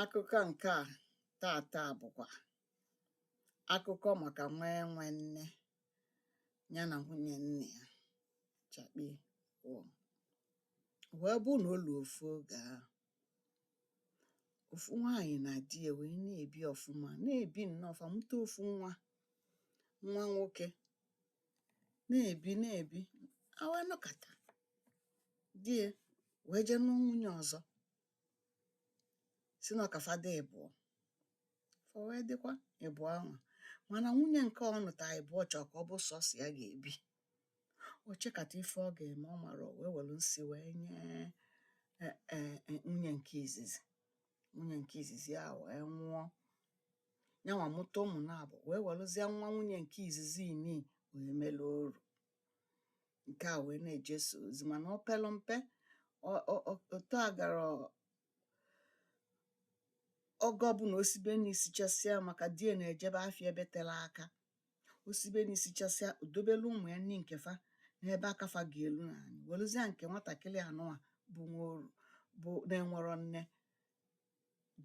Akụkọ nke a taata bụkwa akụkọ maka nwa enwe nne ya na nwunye nna ya chakpịị wọọ. O wee bụ na o luo ofu oge ahụ, ofu nwaanyị na di ya wee na-ebi ọfụma, na-ebi nnọọ ọfụma, mụta ofu nwa, nwa nwoke. na-ebi na-ebi a wee nọkata di ya wee jee nụọ nwunye ọzọ sị na ọ ka fa dị ịbụọ fa wee dịkwa ịbụọ ahụ mana nwunye nke ọ nụta ịbụọ chọọ ka ọ bụ sọsọ ya ga-ebi o chekata ife ọ ga-eme ọ marọ o wee were nsi wee nye e- e- e- nwunye nke izizi nwunye nke izizi ahụ wee nwụọ nyanwa mụta ụmụ naabọ wee welụzie nwa nwunye nke izizi nị wee melu oru nke a wee na-eje sọ ozi mana ọ pelu mpe otu a gara oge ọbụna o sibe nni sichasịa maka di ya na-ejebe afịa ebe telu aka o sibe nni sichasịa o dobelu ụmụ ya nni nke fa n'ebe aka fa ga-elu n'anị welụzịa nke nwatakịrị anụnwa bụ nwa oru bụ na-enwerọ nne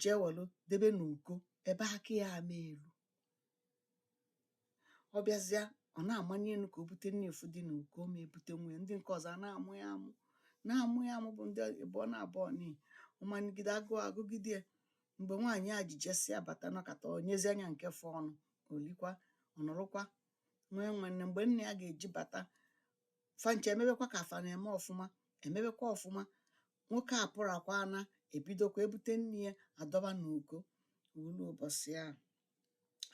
jee welụ debe n'uko ebe aka ya ama elu ọ bịazịa ọ na-amanị enu ka o bute nni fụ dị n'uko ọ ma ebute ụmụ ya ndị nke ọzọ a na-amụ ya amụ na-amụ ya amụ bụ ndị ịbụọ naabọ nị ọ manịgide agụụ agụgide ya mgbe nwaanyị a ji jesịa bata nọkata o nyezia nya nke fọọnụ o likwa ọ nọrọkwa nwa enwe nne mgbe nna ya ga-eji bata fa ncha emebekwa ka fa na-eme ọfụma emebekwa ọfụma nwoke a pụrakwa na ebidokwa ebute nni ya adọba n'uko o lu ụbọchị ahụ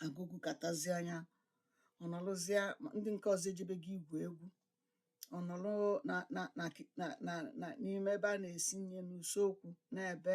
agụụ gụkatazia ya ọ nọrọzie ndị nke ọzọ ejebego igwu egwu ọ nọrọ na na na na na n'ime ebe a na-esi nni n'usekwu na-ebe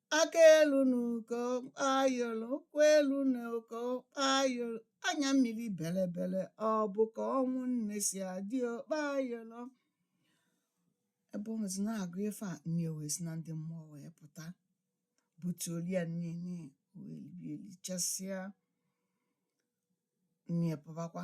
aka elu na uko kpayoro ụkwụ elu na uko kpayoro anya mmiri belebele ọ bụ ka ọnwụ nne si adị o kpayoro ebe ọ nọzi na-agụ ife a nne ya wee si na ndị mmụọ wee pụta butuolu ya nni nị wee lie lichasịa nne ya pụbakwa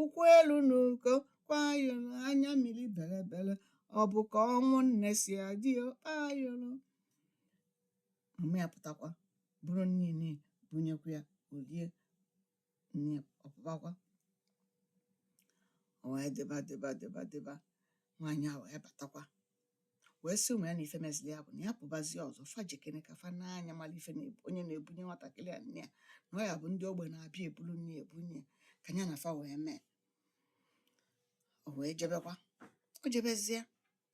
ụkwụ elu na uko kpayoro anya mmiri belebele ọ bụ ka ọnwụ nne si adị o kpayoro mama ya pụtakwa buru nni nị bunyekwa ya o lie nni ọ pụbakwa o wee dịba dịba dịba dịba nwaanyị a wee batakwa wee sị ụmụ ya na ife mezili ya bụ na ya pụbazie ọzọ fa jekene ka fa nee anya mara ife na onye na-ebunye nwatakịrị a nni ya na ọ ya-abụ ndị ogbe na-abịa ebulu nni ebunye ya ka ya na fa wee mee o wee jebekwa o jebezie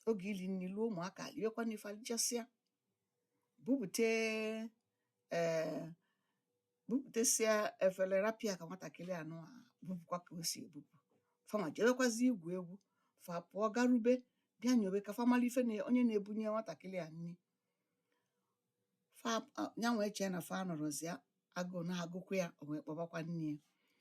oge ili nni luo ụmụaka liwekwa nni fa elichasịa bupụte ee bupụtasịa efere rapụ ya ka nwatakịrị anụwa bupụkwa ka o si ebupụ fanwa jewekwazi igwu egwu fa pụọ garube bịa nyobe ka fa mara ife na onye na-ebunye nwatakịrị a nni fa a- ya wee chee na fa nọrọzịa agụụ na-agụkwa ya o wee kpọbakwa nne ya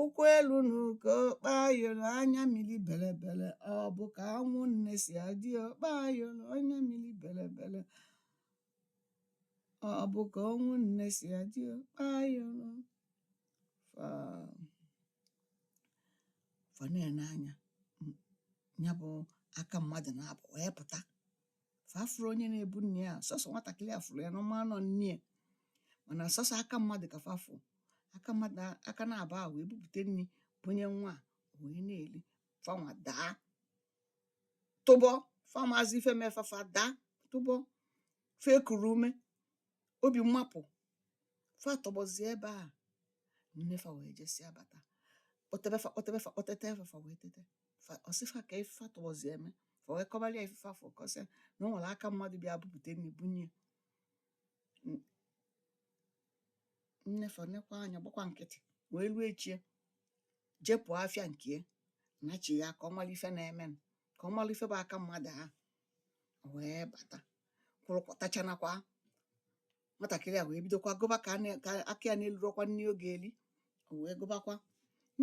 ụkwụ elu n'uko kpayoro anya mmiri belebele ọ bụ ka ọnwụ nne si adị o kpayoro anya mmiri belebele ọ bụ ka ọnwụ nne si adị o kpayoro fa fa na-ene anya ya bụ aka mmadụ naabọ wee pụta fa afụrọ onye na-ebu nni a sọsọ nwatakịrị a fụrụ ya na ọ ma na ọ nne ya mana sọsọ aka mmadụ ka fa fụ aka mmadụ a- aka naabọ a wee bupụte nni bunye nwa a wee na-eli fanwa daa tọgbọ fa amazi ife me fa fa daa tọgbọ fa ekuro ume Obi mapụ. Fa tọgbọzie ebe a. Nne fa wee jesịa bata. Kpọtebe fa kpọtebe fa kpọtete fa fa wee tete. Fa ọ sị fa ka ife fa tọgbọzie eme. Fa wee kọbara ya ife fa fụ kọọ sị ya na o nwere aka mmadụ bịa bupụte nri bunye ya. N- Nne fa nekwa anya gbakwa nkịtị wee ruo echi ya. jepụ afịa nke ya nachigha ka ọ mara ife na-eme ka ọ mara ife bụ aka mmadụ a wee bata kwụrụ kọtachanakwa nwatakịrị a wee bidokwa gụba ka aka ya na-elurokwa nni ọ ga-eli o wee gụbakwa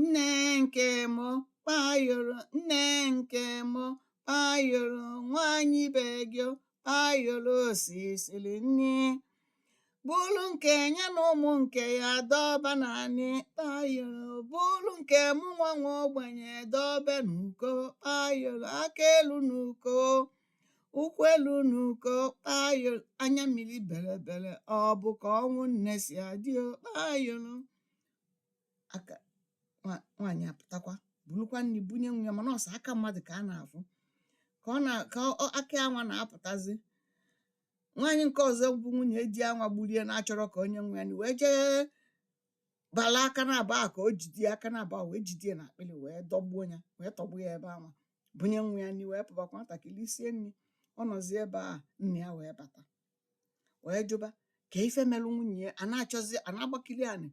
nne nke mụ kpayoro nne nke mụ kpayoro nwaanyị be gị kpayoro o sisili nni bulu nke ya na ụmụ nke ya dọba n'anị kpayoro bulu nke mụ nwa nwa ogbenye dọbe n'uko kpayoro aka elu n'uko ụkwụ elu n'uko kpayoro anya mmiri belebele ọ bụ ka ọnwụ nne si adị o kpayoro aka nwa- nwaanyị apụtakwa burukwa nni bunye nwa ya mana ọ sọ aka mmadụ ka a na-afụ ka ọ na ka ọ- aka anwa na-apụtazi nwaanyị nke ọzọ bụ nwunye di anwa gburie na-achọrọ ka onye nwe ya nụ wee jee bala aka naabọ a ka o jide ya aka naabọ a wee jide ya n'akpịrị wee dọgbuo ya wee tọgbọ ya ebe anwa bunye nwa ya nri wee pụbakwa nwatakịrị lisie nri ọ nọzi ebe a nna ya wee bata wee jụba ka ife melụ nwunye ya a na-achọzi a na-agbakiri anị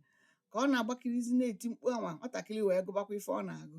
ka ọ na-agbakirizi na-eti mkpu anwa nwatakịrị wee gụbakwa ife ọ na-agụ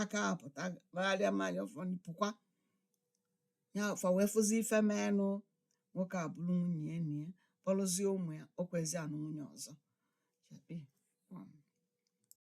aka apụta kpagharịa mmanya ụfọdụ pụkwa ya fa wee fụzi ife menụ nwoke a buru nwunye ya nie kpọrọzie ụmụ ya o kwezi anụ nwunye ọzọ